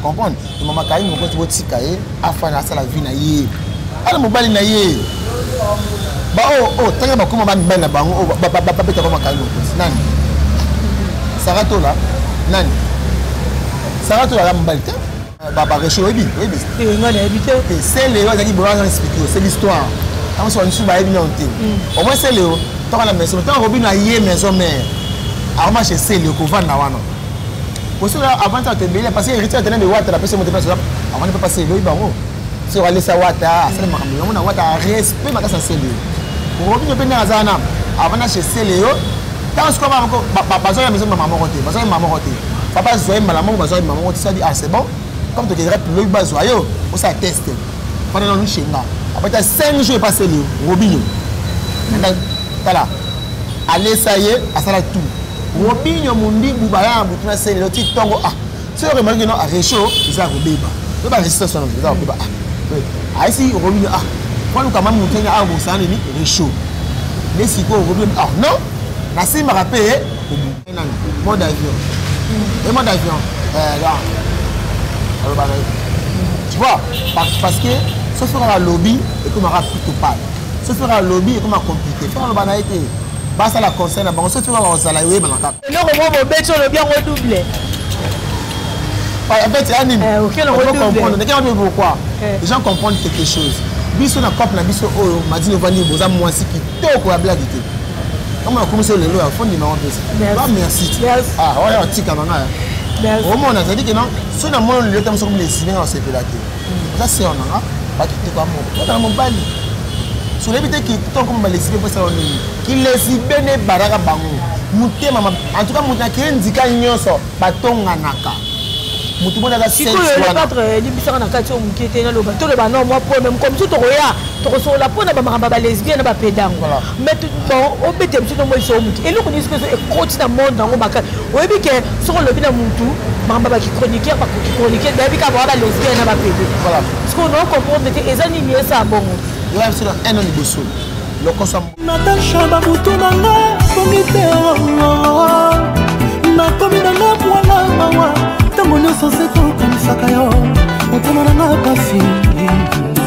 comprendre mama kaini mokonzi botika ye afana asala vie na ye ana mobali na ye baoyo oh, oyo oh, ntango bakoma bamibali na bango oyo oh, babetaka makaini mokonzi nani saratola nani saratola ya mobali te bareche oyebi oyebi eh, sele oyo azalaki boyo azana explike yo c'est l'histoire ntango soki bamisusu bayebi nano te au moins sele oyo toka na maison ntango akobi na ye maison mare akoma chez sele okovanda wana kosala avant ça tebele parce que héritier tena de wata la pesa moto pesa avant pas passer loyi bango so wale sa wata asala makambo yango na wata respect makasa sele robinho pe ndenge azala na avant na chez sele yo ntango sikoyo bana moko bazwa ya maison mama moko te bazwa ya mama moko te papa azwa ye mbala moko bazwa ye mama moko te sadi ah c'est bon comme tokendaka lobi bazwa yo osala teste fana nanu shenga apata 5 jours epaseli yo robinho tala alesa ye asala tout Robinho Mundibu baya na butu na se lelo ti ntongo ah soki oremarki no arecho eza ya kobeba to baresistance wana eza ya kobeba ah ayesi Robinho ah kwaluka mwa motu ene awa bosana nini recho nde sikoyo Robinho ah non nasimbaka mpe nani mode avion e mode avion aloba na ye tu vois parce que soki kaka alobi ekomaka plutôt pale soki kaka alobi ekoma compliqué fo aloba na ye te basala conseil na bango soki baba kozala oyebana kaka eloko moko bobeti olobi yango double abeti ya nini comprendre ndeke wapi pourquoi les gens comprendre quelque chose biso na cope na biso oyo madini ovandi boza mwasi kitoko ya blage te kama nakomisi yo lelo ya fondi mama mpesa ba merci ah oyo atika banga omona azali ke non soki na moni lelo tamosokomi lesibinga osepela te oza sœur na nga bakitoko ya moko mpona na mobali solebi te kitoko ma balesibe mpo esala nini kilesibe nde ebalaka bango motema en tout cas moto na keye nzika nyonso batonganaka motu mona aza sikoyo le patre eh, limbisaka na kati oyo moke te naloba toloba no mwa problème comme so tokoya tokosolola mpo na bamakambo ya balesbienne na bapedango mais bon obete biso tomonisa yo motu eloko nini soki ezo ekoti na monde yango makasi oyebi ke soki olobi na motu makambo ya bakichroniqueur bakichroniqueur bayebi kaka baa balesbien na bapede soki onoo comprendre te eza nini esaa bongo yoya biso na un an liboso lokosa natasha babutu na nga komi te nakomi na nga mwana mawa ntango nyonso se tokanisaka yo motema na nga kasi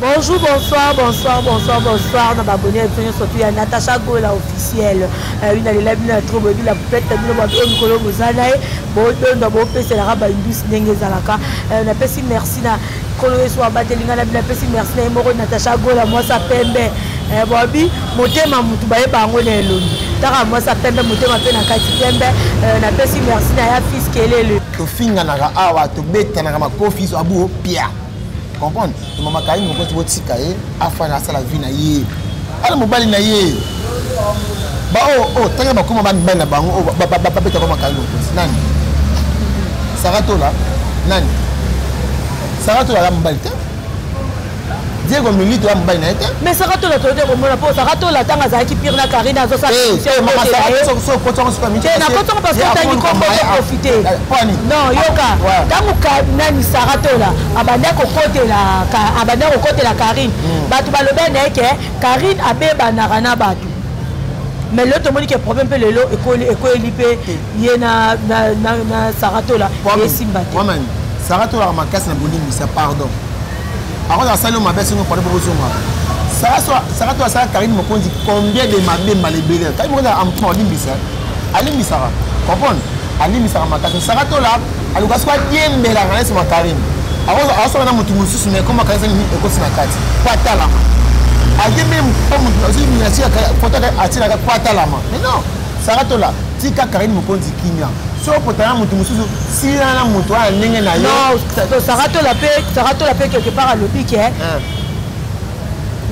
Bonjour, bonsoir, bonsoir, bonsoir, bonsoir. Na babonne ya biso surtout ya Natacha Gola officielle. Euh, une alela bino ya trop boye la poupette bino ba bino mikolo boza na ye. Bo dondo bo pese la ba indus ndenge ezalaka. Euh, na pesi merci na kolo yesu abateli ngai na bino apesi merci na ye moko natacha gola mwasi apembe eh, bobi motema motu bayeba yango na elongi taka mwasi apembe motema mpe na kati pembe eh, napesi merci na ya fils kelele tofinganaka awa tobetanaka makofi so abuo pia comprendre to mama kaini mokoti botika ye afana asala vie na ye ala mobali na ye baoyo oyo ntange bakoma bamibali na bango oyo babetaka makaini mokoti nani saratola nani saratola ala mobali te diego milito ya mobali na ye te mais saka tola toyoki komona mpo saka tola ntango azalaki pire na karine azosalanakotongo parce que otangi kombo te non yoka ntango nani sara tola abanda kokotela abanda kokotela karine hmm. bato balobela na ye ke karine abebanaka na bato mais lelo tomoni ke problème mpe lelo ekweli mpe ye na sara tola esimba te sara tolaka makasi na bolimbisa pardon akoza asali yo mabe asengo pardon bokozongaka sara to asala karine mokonzi combien de mabe mala ebele karine mokonzi ampona olimbisa alimbisaka comprendre alimbisaka makasi saka tola aluka soki adiembela kanesi ma karine aosala na motu mosusu na ekoma kanisa nini ekosi na kati po atalama adiembeli motufoto atilaka po atalama mais non saka tola tika karine mokonzi kimia soki potana motu mosusu sila na motu wana ndenge na yo saka tola mpe quelque part alobi ke eh.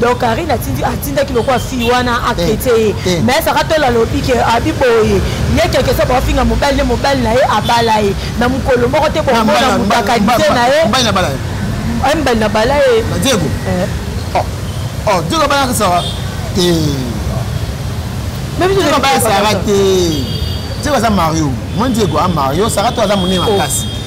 donc karine atindaki lokola fille wana akrete ye mais saka tola alobi ke abi boye ye keke so bafinga mobali nde mobali na ye abala ye na mokolo moko te bomona motakadise na ye mbali na bala ye diego eh. oh, oh, diego abalaka sawa te diego abalaka sara te diego aza mario moni diego a mario sara to aza monene makasi oh.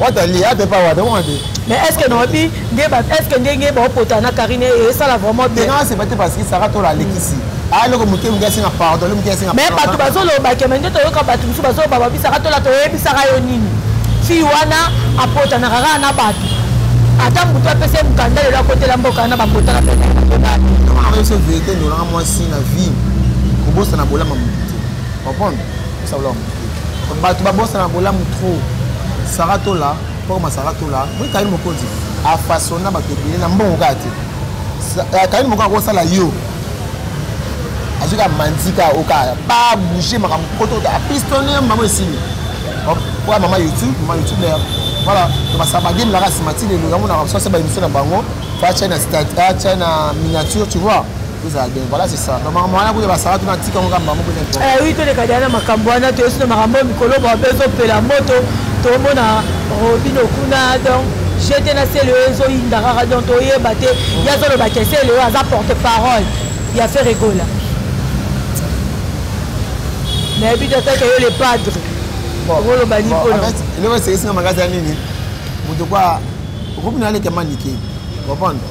Wata li ate pa wata wata. Mais est-ce que nobi nde ba est-ce que ndenge ba opota na Karine et ça la vraiment bien. Non, c'est pas parce que Sarah tola lekisi. Ah loko muke muke singa pardon, muke singa. Mais ba tu bazo loba ke mende to yoka ba tu musu bazo ba ba bi Sarah tola to yebi Sarah yo nini. Fi wana apota na rara na ba tu. Ata mutu apese mukanda lelo akotela mboka na ba kota na pena. Comment on réussit vérité nous la moi si na vie. Kobosana bolama mutu. Comprendre? Ça vlog. bato babosana bolamu trop sara tola pokoma sara tola moi kayini mokonzi afasona bato ebele na mbongo kaka te eh, kayini mokonzi akosala yo azwi kaka manzika okaya babouge makambo poto apistone mama esili oya mama youtube mama youtube na voilà basala bagame naka nsima ti lelo yango naka basala se baémission na bango fa china stade china miniature tu vois ezala bien voilà c'est ça donc makambo wana kuya basala tuna tika ngo kamba moko wi eh toleka dia na makambo wana toyesi na makambo oyo mikolo mwa mpe ezopela moto tomona robino kuna donc jete na sele oyo ezoyinda kaka donc toyeba te ye azoloba ke sele oyo aza porte parole ya faire egola nayebi te atake yo le padre okoloba nini mpona eloko esekisi na makasi ya nini moto kwa okobina alekema nike comprendre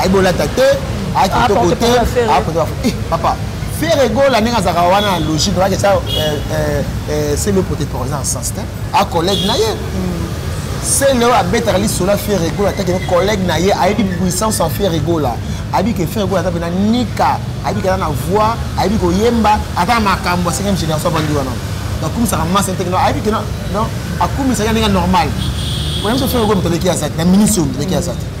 ayebi olata te aye kitoko te apote bafu eh, papa fere gola ndenge azalaka wana na logique oyaki esa selo pote présent en sens te a collègue na ye selo abetaka lisolo ya fere gola atake collègue na ye ayebi puissance ya fere gola ayebi ke fere gola ata mpena nika ayebi kata na voix ayebi koyemba ata na makambo ya 5e génération avandi wana akumisaka masi nteke no ayebi ke akumisaka ndenge normal oyebi so fere gola moto aleki aza te na ministre oyo moto aleki aza te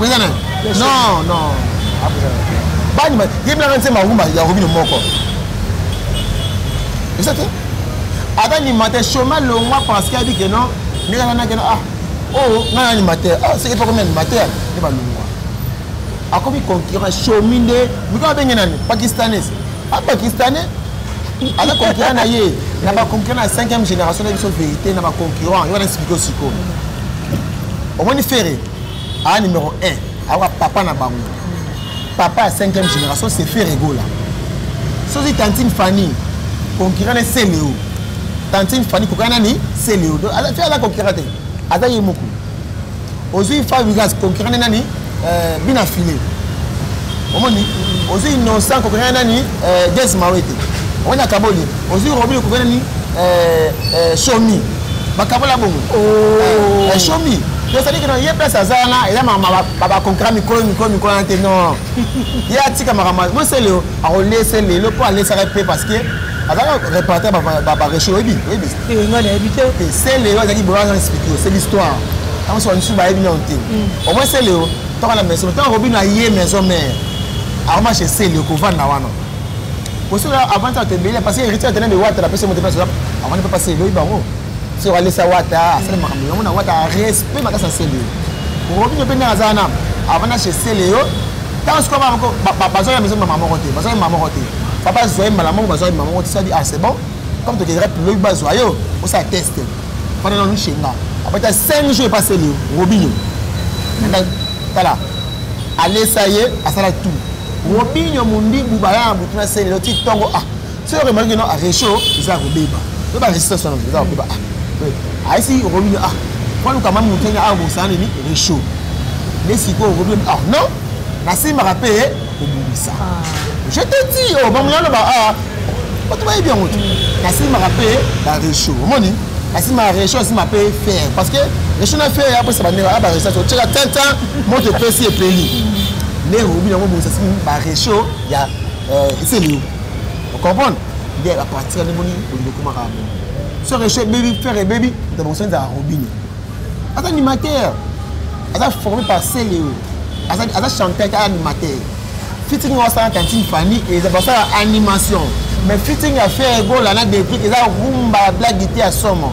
Oza na Non, non. Bani ba yebla na nzema rumba ya Robino moko. Eza te? Ata ni mate chômage longwa parce qu'il a dit que non, ni kana na kana ah. Oh, na na ni mate. Ah, c'est pas comme ni mate. Ni ba longwa. Akomi concurrent chômage nde, mika benge nani? Pakistanais. Ah, pakistanais. Ala concurrent na ye. Na ba concurrent na 5e génération na biso vérité na ba concurrent. Yo na expliquer siko. Omoni ferre. a numéro 1 awa papa na bango papa ya 5e génération c'est ferregola soki tantine fanny concurrent ne celeo tantine fanny koka nani celeo fi aza concurrent te aza ye moko ozwi fabrigas concurrent ne nani euh, bina file omoni ozwi innocent concurrent nani euh, des mawete omoni akaboli ozwi robin concurrent nani euh, somi bakabola bongo oh. eh, shomi tozali kino ye place aza wana eza bakonkura mikolo mikolo mikolo wana te non ye atika makambo moseleo akolese lelo mpo alesaka mpe parce que azalaka repartir bareche oyebi oyebi eh, se leo azalaki boyo aza explike se l'histoire ntango soka misusu bayebi nao te mm. omoi se leo tokana maison ntango akobino aye maison mare akoma chez se leo kovanda wana kosala avant ça tebele parce que héritier tena de wata la pesa moto pesa avant pas passer loyi bango so wale sa wata asala makambo yango na wata respect makasa sele robinho pe ndenge azala na avant na chez sele yo ntango sikoyo bana moko bazwa ya maison mama moko te bazwa ya mama moko te papa azwa ye mbala moko bazwa ye mama moko te sadi ah c'est bon comme tokendaka piloki bazwa yo osala teste fana nanu shenga apata 5 jours epaseli yo robinho tala alesa ye asala tout Robinho Mundibu baya na butu na se lelo ti ntongo ah soki okemaliki no arecho eza ya kobeba to baresistance wana eza ya kobeba ah ayesi Robinho ah kwaluka mwa moto ene awa bosana nini recho nde sikoyo Robinho ah non nasimbaka mpe kobongisa ah. je te di o oh, bamona loba ah bato bayebi yango te nasimbaka mpe barecho omoni nasimbaka recho nasimba mpe fer parce que recho na fer ya apesa bandeko ya baresistance otyeka tintin moto epesi epeli ndenge obi yango bongisa simi baresho ya euh, eselio ocomprendre nde apartir nde moni olingi okomaka yango so resho ebebi fere ebebi moto bongisa ezala robine aza animateur aza formé par celeo aza chanteur te animateur fitting oyo asala tantine fanny eza basala animation mais fitting ya fere egola na deplic eza rumba ya blague te ya somo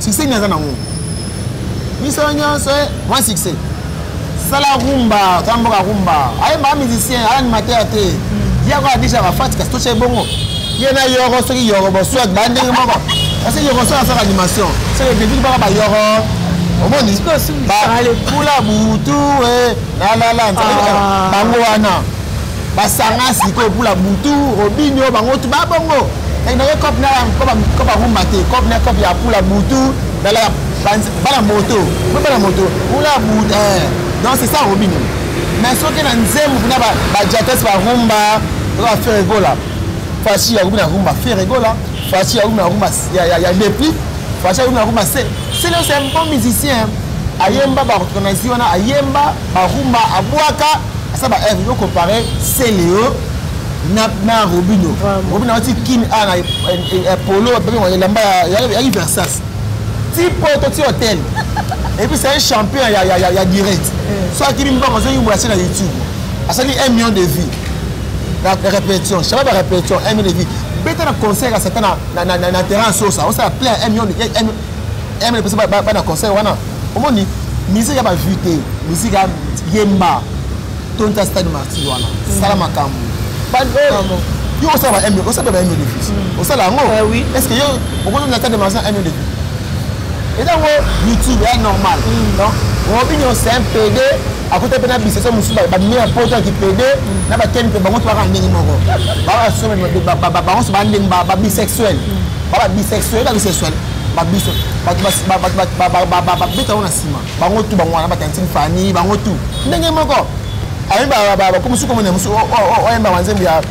succès nini aza nango biso nyonso eh, mwa succès sala rumba za mboka rumba ayembaka musicien aya animateur te hmm. ye ako adijaka fati kasi tosha ebongo ye na yoro soki yoro boswak baya ndenge moko kasi yoro soki asaka animation soki ebebiki baka bayoro omoni bakula butu eh, lalala nzali ah. bango wana basanga sikoyo pula butu robinio bango tu babongo naye cop na cop arumba te cop na cop ya pula butu nala bana moto mpe bana moto pula butu eh. donc c'est ça robinio mais soki na nzembo kuna bajates barumba oka fere gola fashi ya rubina rumba fere gola fashi ya rubina rumba ya depli fashi ya rubina rumba se selo c'est un bon musicien ayemba baorthonasie wana ayemba barumba abwaka ça ba œuvre yo comparer Celeo na na Robino Robino wati kin a na eh, polo ba bengwa elamba ya ya Versace ti poto ti hôtel et puis c'est un champion ya ya ya direct eh. soit qui bimba ko zo yumba na YouTube asali 1 million de vues la répétition ça va la répétition 1 million de vues beta na concert ya satan na na na terrain sosa osala plein 1 million 1 million pesa bana concert wana omoni musique ya ba vue te musique ya yemba tonta stade martir wana mm. sala makambo yo osala ba mm. osala ba mdefis osala yango est ce que yo okozonga stade martir ya mdefis etango youtube ya normal mm. donc robinio c'est un pede akuta mpe na biseso mosusu babimi ya poto ya kipede na bakeni mpe bango tobaka ndenge moko bango so bandenge babisexuel baba bisexuel na bisexuel babiso bato babeta yango na nsima bango tu bango wana batantine fani bango tu ndenge moko ayebakomosuku omona mosu oyemba banzembo ya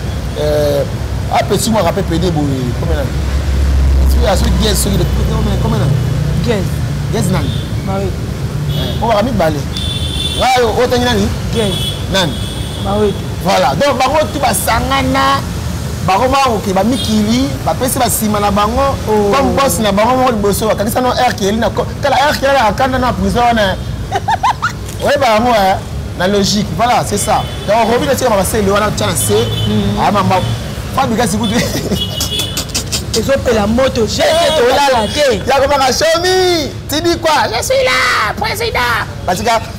apesi mwaka mpe pede boye komena aso gese soki komena gese nani oyo baka mibale ngayo otangi nani nani voilà donc bango tu basangana bakoma koke bamikili bapesi basima na bango oh. comme bos na bango moko liboso bakangisa no air keli na tala air keli akanda na prison wana oyeba yango eh, na logique voilà c'est ça donc robi na tikama basele wana tya na se hmm. amama ah, fabika sikutu ezopela moto jete eh, tolala te yakobaka somi tibikwa je suis là président batika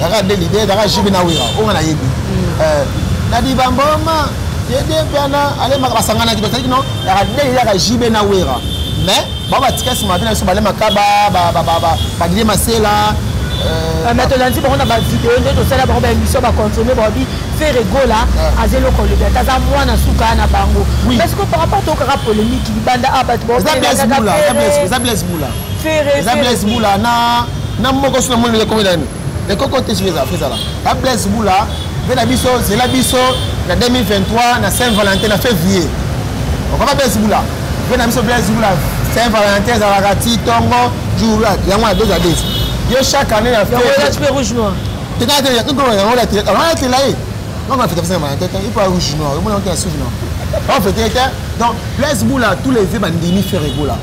Kaka de l'idée, kaka jibi na wira, onga na yebi. Mm. Euh, na di bamboma, yede piana, ale maka basangana ki bataki no, kaka de l'idée, kaka jibi na wira. Mais, ba ba tika sima bina so bale makaba, ba ba ba ba, ba gile masela, euh, ah, mais tolandi bango na bavideo nde tosala bango baémission baconsomme babi fere gola ah. aza eloko olobi ata aza mwana suka na bango parce que par rapport tokaka polémique libanda a ah, bato baoeza blaise mula fere blaise mula na na moko sina moni le komela ni le koko te sur les affaires là la blaise boula pe na biso zela biso na 2023 na saint valentin na février okaba blaise boula pe na biso blaise boula saint valentin ezalaka ti tongo jour yango na deux à deux yo chaque année na fait yango tu peux rouge noir te na te ya ko yango la te alors la te là eh non ma fête saint valentin il faut rouge noir on monte à rouge noir on fête donc blaise boula tous les vœux bandimi faire boula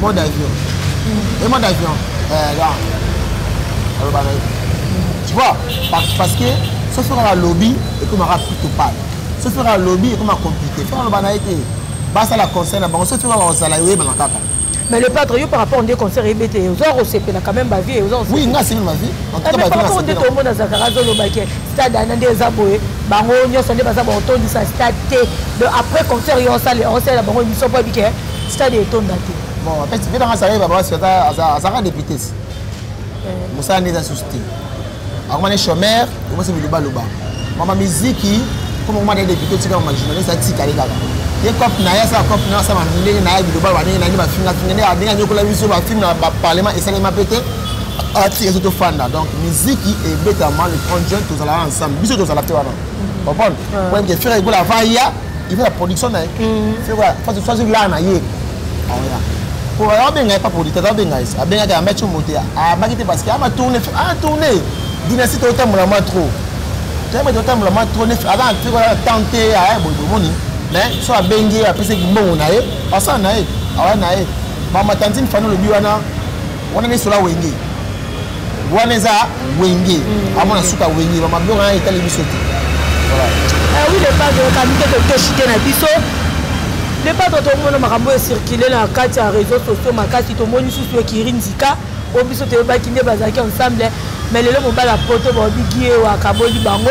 mode avion e mode avion alobaka tu vois parce que so fera la lobby ekomaka plutôt pale so fera la lobby ekoma compliqué fera aloba na ye te basala conseil na bango so fera bakozala oyebana kaka mais le padre yo par rapport nde concert eyebi ete oza kosepela quand même bavie oza oui nga asepeli bavie par rapport nde tomona zakara azolobake stade ana nde eza boye bango nyonso nde baza bakotondisa stade te après concert yo osala osala bango émission mpo ebike stade etonda te bon apesi mpe nanga salai babasi azalaka députés eh. mosala nde eza susu te akomani chomeur okosi bilobaloba mama miziki comme okoma nde député otika mama journaliste atikali kaka ye cop na ye asala cop na ye asala ndenge na ye bilobalo bandenge na ye nde bafingafinga nde ndenge anyokola biso bafilme na baparlement esalema mpe te ati ezo tofanda donc miziki ebetama le 30 juin tozalaka ensemble biso tozala te wana comprendre po yebike fere egola avaya niveau ya production na ye soki laa na ye aoya po abenga ye pa producteur abenga ye abengaki ayamba ti mote ayambaki te parce que ama tourne a tourne dynastie totambola ma trop toyamba totambola ma trop nefi aza na temps te aya boye bomoni mais so abengi ye apesaki mbongo na ye asala na ye awa na ye bama tantine fani olobi wana wana nesola wenge wana eza wenge mm. amona suka wenge bamabloko wana etali biso te eh oui le padre okani te totoshi te na biso le padre tomona makambo oyo ecircule na kati ya réseau sociaux makasi tomoni susu ekiri nzika oyo biso toyebaki nde bazalaki ensemble mais lelo mobali ya poto baobiki ye wakaboli bango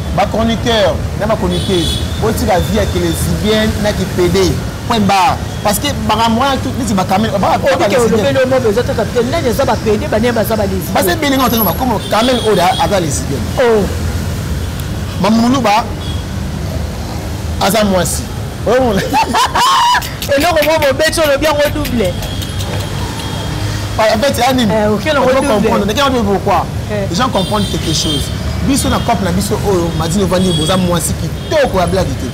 Ba chroniqueurs na ba chroniqueuses botika vie ya kelesibienne na kipede point barre parce que makambo wana neti bakamele basi ebele nga otanga bakomo kamele oyo aza lesbienne oh. mamuluba aza mwasi eloko moko bobeti olobi yango double en fait ya nini comprendre ndenge wana pourquoi les gens comprendre quelque chose biso na cope na biso oyo madini ovandi boza mwasi kitoko ya blage te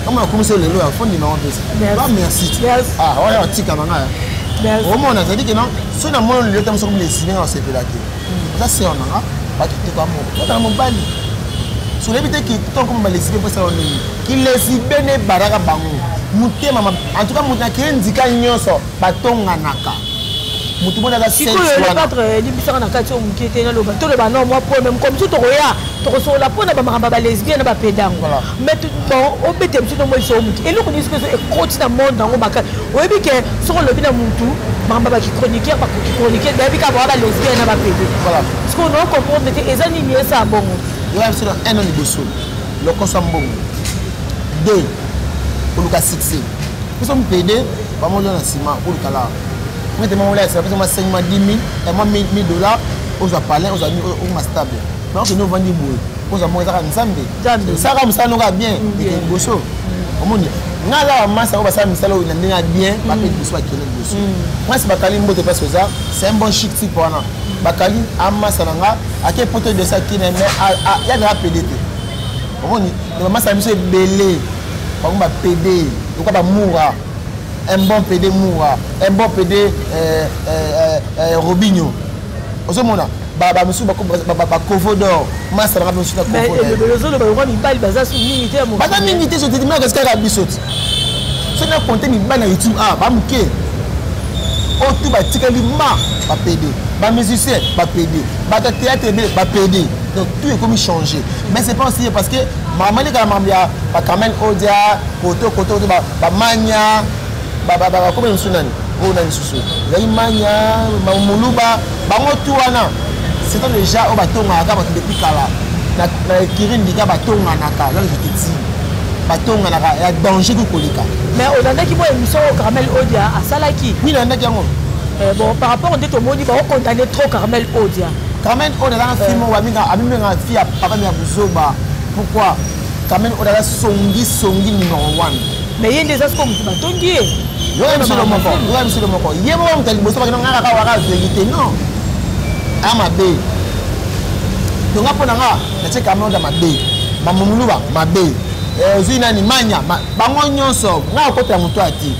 kama nakomisi yo lelo ya fondi na wapesa ba merci ah oyo atika na ngai omona azali ke non soki na moni lelo ta mosokomi na esili nga nasepela te aza sœur na nga bato kitoko ya moko bata na mobali solebi te kitoko malesibe mpo esala ndenge kilesibe nde ebalaka bango motema antuka moto nakeye ndika nyonso batonganaka motu mona azasikoyoyebisaka na kati oyo moke te naloba toloba no mwa po meme comme so tokoya tokosolola mpo na bamakambo ya balesbien na bapedango mais obete biso tomoyisa oyo moke eloko nyonso mpe ekoti na monde yango makasi oyebi ke soki olobi na mutu makambo ba kichroniqueur bakichroniqueur bayebi kaka baa balesbienne na bapede sikoyo nao comprendre te eza nini esa ya bongo ngai biso na un an liboso lokoso ya mbongo deux oluka succès biso mpede bamolio na nsima oluka la mete mamola ya nsima biso masengi ma 10 000 ema 1000 dollars ozwa palin ozwa okoma stable mais okende ovandi boye ozwa moko ezaka nzambe saka mosala noka bien ekende liboso omoni nga aza bamasi yango basala misala oyo na ndenge ya bien bape liboso bakende liboso mwasi bakali mbote place oza c'est un bon chic type wana bakali amasa na nga ake poto edosa kine me ya na apede te omoni na bamasi na biso ebele bango bapede lokola bamoura un bon pede moura un bon pede euh, euh, euh, robinho ozomona bamosusu bakovo dor masa nanga mosusu nakovoozoloba lokwa mibali baza su mingi te baza mingi te sotetimaka kasi kaka biso ti so na konte mibali na youtube a ah, bamoke oyo tu batikali ma bapede bamusicien bapede bato ya théâtre ebele bapede donc tout ekomi changé mais c'est pas aussi parce que mamani kala mambo ya bacarmel odia koto koto koto bamania bakomela mosusu nani oyo nani susu ezali mania muluba bango tu wana c'est déjà oyo batongaka bato depuis kala na ekiri ndika batonganaka là je te dis batonganaka ya danger ko koleka mais olandaki mwa émission oyo carmel odia asalaki oui nalandaki yango eh, bon par rapport nde tomoni baokontanne trop carmel odia carmel odia azanga film oyo amimengaka fi ya papa mya buzoba pourquoi kamene oyo aza songi songi numero 1 me ye nde eza soko moto batongi ye yoya misolo moko yoya misolo moko ye moko moto ya liboso bakenda nga kaka waka verité non a mabe donc nga mpo na nga natie kamene oyo mabe mamomuluba mabe eh, ozwi nani manya bango nyonso nga akota ya moto ati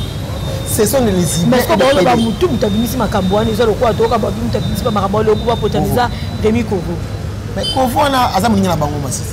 ce sont les idées baoloba motu moto abimisi makambo wana eza lokola toyoka babi moto abimisi bamakambo wana lokuba potaniza demi kovo mais kovo wana aza moninga na bango masisi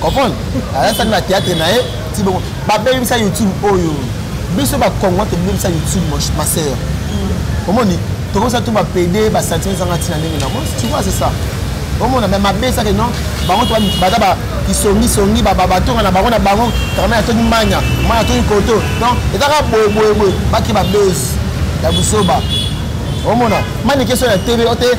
comprendre ayasani na théâtre na ye ti bongo babebisa youtube oyo biso bakongo tobebisa youtube ma sœur mm. omoni tokosa tu bapede basentiment ezanga ntina ndenge na moi tu vois c'est ça omona me mabe esake non bango to baza bakisongisongi batonga na bango na bango karama ya toki manya mwana ya toki koto non ezaka boyeboyeboye bake babese ya busoba omona manike so ya tebe ote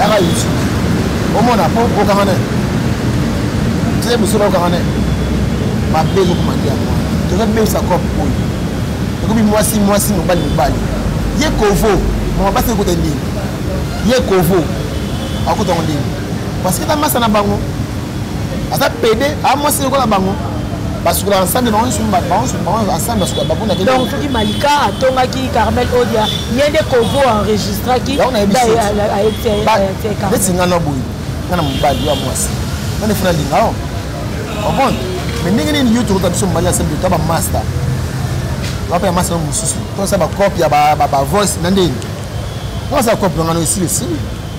yaka yesu omona po okanga ne tie biso na okanga ne mabe ezokomandi yango tozobebisa cope oyo ekomi mwasi mwasi mobali mobali ye kovo mama basi ekota ndini ye kovo akota ngo ndini parce que na masa na bango aza pede a mwasi lokola bango basukola ensemble bango nyonso bango ensemble basukola bakuna te donc soki malika atongaki carmel odia ye nde kovo enregistraki neti nga na boye nga na mobali yo ya mwasi nga nefuna linga o comprendre mais ndenge nini yo tokota biso mobali ya sembe ta bamaster wape ya masta no mosusu tosala bacope ya bavoice na ndenge nga basala cope na nga no esili esili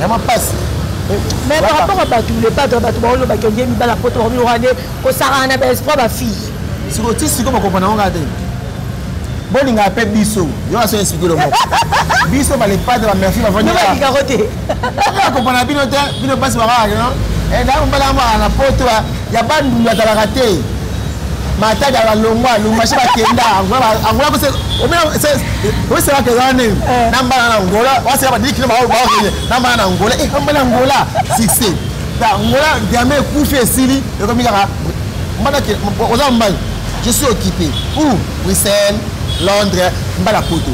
ya mapasi mais par rapport à bato le padre bato baoyo bakende mibala poto bakomi rwande kosakana na baespoir bafille sikoyo ti sikoyo bakopana ngo kaka te bolingaka mpe biso yo aso explike lo moko biso balepade bamerfi bavandiakoka te akopana bino te bino basi bakaka no eh, ndako mbalaka maka na poto ya bandundu atalaka te matadi ya balongwa lumbashi bakenda angola kose oselaka eza nini eh. na mbala na angola wasela badili kino baokende na mbala na angola e mbala angola succès ta angola diame ekufi esili ekomi kaka mbala oza mobali je suis occupé ou bruxelles londres mbala poto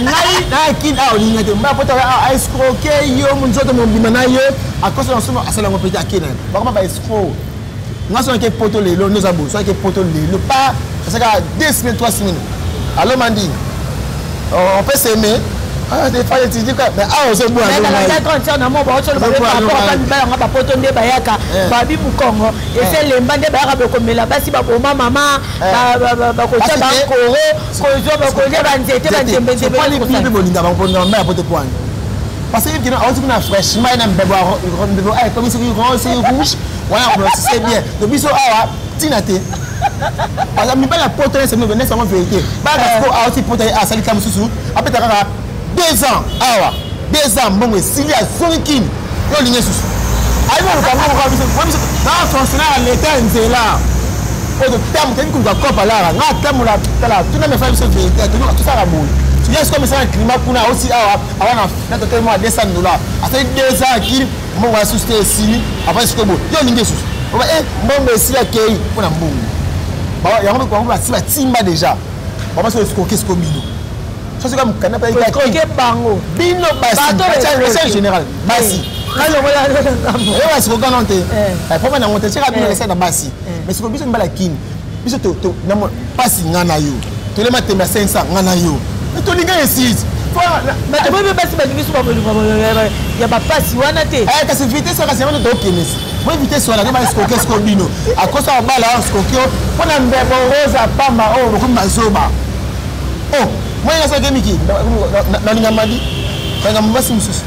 ngai nakin awa olinga te mbala poto aescroke yo monzoto mobima na ye akosa na nsomo asala yango mpe te akena bakoma baescroke nga soki nake poto lelo nde oza boye soki nake poto lelo pa asaka deux semaines trois semaines alo mandi on peut s'aimer baanga bapoto nde bayaka babi mokongo esi elemba nde bayaka bokomela basi baboma mama bakotya bakoro kozwa bakolya banzete banzembezembebolingabakoponiapoto pwani parce que yebikina auti kuna fraîchement na mbebo ekomi soki rose rouge wana kolosise bien to biso awa ntina te baza mibali ya poto nese mino nese yango verité bana siko awoti poto ye asali ka mosusu apeta kaka deux ans awa deux ans mbongo esili azongi kini yo olingi esusu ayebi koluka mbongo kaka biso biso na fonctionnaire ya leta ya nzela oyo totambo toyebi koluka kopa lara nga atambola tala tuna mefala biso verité toyoka tosala boye tuya sikoyo misala na climat kuna osi awa awana na totelema 200 dollars asali deux ans akili mbongo ya susu te esili avandi sikoyo boye yo olingi esusu oba e eh, mbongo esili akei mpo na mbongo yango bango basi batimba déjà bama soki esikoki siko bino sosoka mokanda mpe bango bino basi général basi oyo basikoka no te poma nango te soki abino esali na basi mais sikoyo biso mibala kini biso pasi nga na yo tole matembe ya 500 nga na yo tolinga esise bato boye basi balingi so ya bapasi wana te eh, kasi vitese kasi yango tokenesi boye vitese wana nde eskoke siko bino akosa babala wana eskoke o mpo na mbebo rosa pamba oyo oh, bokomi bazoba o oh, moyena soki emiki nalinga madi nalinga mobasi mosusu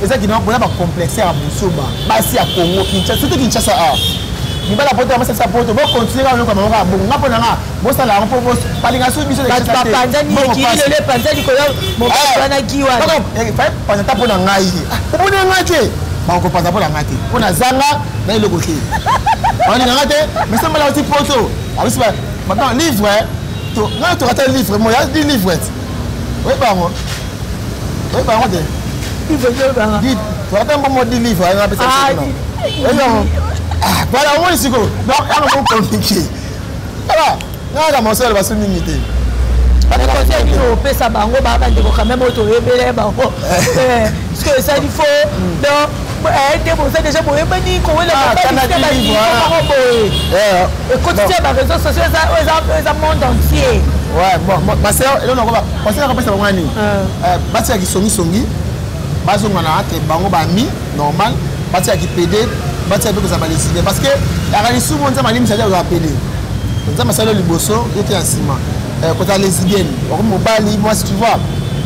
eza kina boza bacomplexe ya busoba basi ya congo kinshasa surtout kinshasa a mibala poto ya masasa poto bokontinue kaka lokola bango kaka bongo nga mpo na nga bosala yango mpo balinga soki biso panza ta mpo na ngai omoni ya ngai te bakopanza mpo na ngai te mpo na zanga na eloko te balinga ngai te mesambala oti poto abisi livre ngai tokata livre moya livre oyebango oyeba yango te toyata mbongo di livre ayo apesa oyo bala omoni sikoyo donc yango mokomiki aa nayaka mosolo basu mingi te opesa bango baa bandeko quand même oyo toyebele bango eh. eh, sikoyo esali fo donc te boza dejà boyebani kowela ekotisi ya bareseau sociaux eza monde entier basea eloko nakoba conseil nakopesa bango nani batika kisongisongi bazonga na te bango bami normal batika kipede batika mpe kozala baleside parce que yaka lisumu nzambe alimisa te kozala pede nzambe asali yo liboso yo te ya nsima kozala lesbienne wakomi mobali mwasi tu vois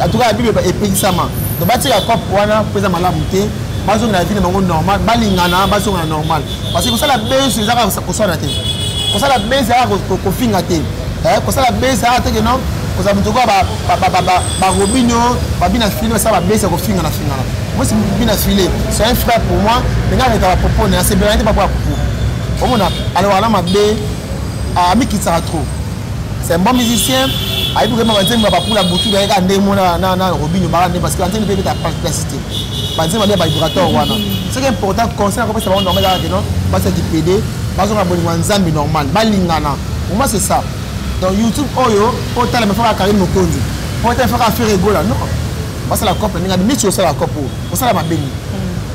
en tout cas la bible epekisama donc batika cop wana mpo eza malamu te bazongela vie na bango normal balingana bazongela normal parce que kosala besu eza kaka koswana te kosala besu eza kaka kofinga te eh, kosala besu eza kaka teke non kozala moto okoa barobino babina file basala babesi ya kofingana fingana mosi bina file c'est un frère pour moi mais nga reta bapopo na asebelana te bapo ya popo omona alobaka na mabe amikitisaka trop c'est un bon musicien ayebi koyemba banzembo ya bapula butu naye kaka ndenge mona na robino baka nde parce que banzembo mpe ebeta plasité banzembo ya bavibrateur wana soki important conseil nakopesa bango normal kaka keno basi ya kipede bazonga bolingo ya nzambe normal balingana oma c'est ça donc youtube oyo otala mefaka karine mokonzi otala mefaka fere egola non basala cope ndenge adi mici osala cope oyo osala mabengi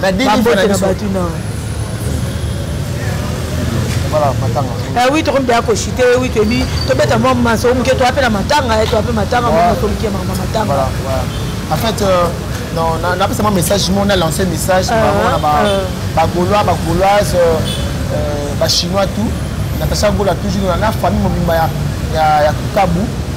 babote na bato na eh oui tokomi deya koshite eh oui toyebi tobeta mwa masolo moke toya mpe na matanga eh, toya mpe matanga monasoliki ya mama matanga en fait euh, non napesa mwa message mo na lance message ah, bango na bagaulois ah. bagauloise euh, euh, bachinois tout natasha gola toujours na famille mobimba ya kukabu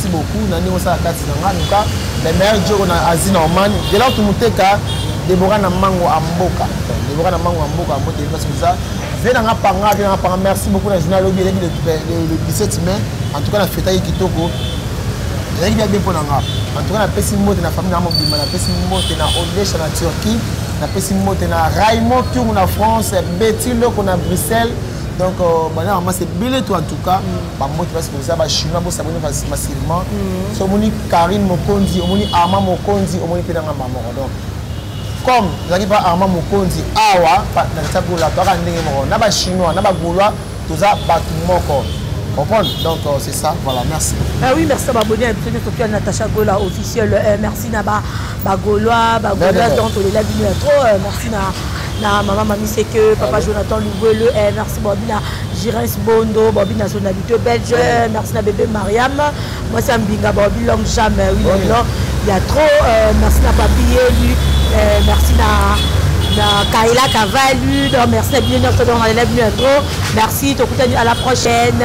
merci beaucoup na ndenge osala kati na nga luka le meilleur jogo na asie na oman delor tumuteka debora na mango a mboka debora na mango a mboka mbote parce que eza vie na nga panga vie na nga panga merci beaucoup na journal lobi eleki le 17 mai en tout cas na fetaki kitoko ezalaki bia bien mpo na nga en tout cas napesi mbote na famille na mobimba napesi mbote na odesha na turquie napesi mbote na raymond kiungu na france beti loko na bruxelles donc euh, bana mama c'est bele to en tout cas mm. bambote basi koza bachinois bosaboni massivement mm. so omoni karine mokonzi omoni arma mokonzi omoni mpe nanga mamoko donc comme ezalaki mpa arma mokonzi awa na ntagola toyaka ndenge moko na bachinois na bagaulois toza bato moko comprendre donc euh, c'est ça voilà merci ah oui merci à babonne à biso nyonso toya natacha gola officiel euh, merci na ba Ba Gaulois, ba Gaulois donc tolela bino ya trop. Euh, merci na na mama mami c'est que papa Jonathan Luguele, eh, merci Bobby na Girens Bondo, Bobby nationalité belge, eh, merci na bébé Mariam. Moi c'est Mbinga Bobby long jamais oui long long. Il y a trop euh, merci na papi Yelu, eh, merci na na Kaila Kavalu, donc merci na bino donc on a trop. Merci, tokutani à la prochaine.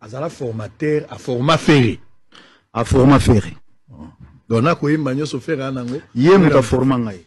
azala formateur a forma ferre a forma ferre donc nakoyemba nyonso ferre anango ye moto aforma ngai